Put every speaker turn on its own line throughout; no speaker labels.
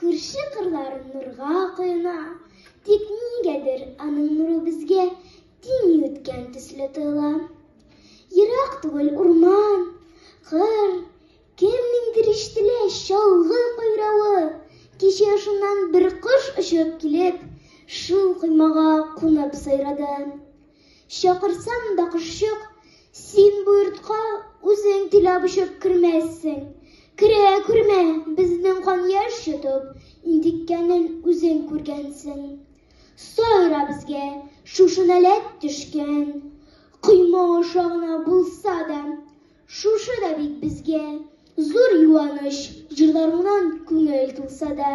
Күрше кырлар нурга коена, тик нигәдер аның нуры безгә тиң үткән төсле тоела. Ерак түгел урман, кыр, кемнеңдер ишетелә чалгы кайравы. Кичә шуннан бер кош очып килеп, шул коймага кунып сайрады. Чакырсам да кошчык, син бу йортка үзең теләп очып кермәссең. Керә күрмә, безнең кан яшь йотып, интеккәнен үзең күргәнсең. Сайра безгә шушы нәләт төшкән. Койма аша гына булса да, шушы да бит безгә зур юаныч, җырларыңнан күңел тулса да.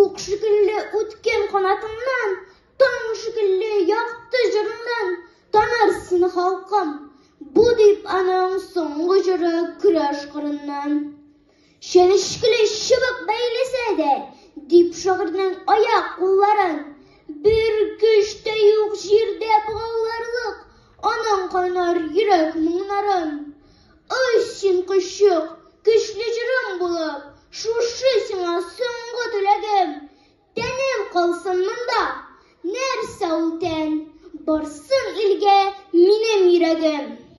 Ук шикелле үткен канатыңнан, Таң шикелле якты җырыңнан Таныр сине халкым. Бу дип аның соңгы җыры көрәш кырыннан. Чәнечкеле чыбык бәйләсә дә, Дип шагыйрьнең аяк кулларын, Бер көч тә юк җирдә богауларлык Аның кайнар йөрәк моңнарын. Ой, син коччык, көчле җырың булып, Шушы сиңа соңгы теләгем. Тәнем калсын монда, нәрсә ул тән, Барсын илгә минем йөрәгем.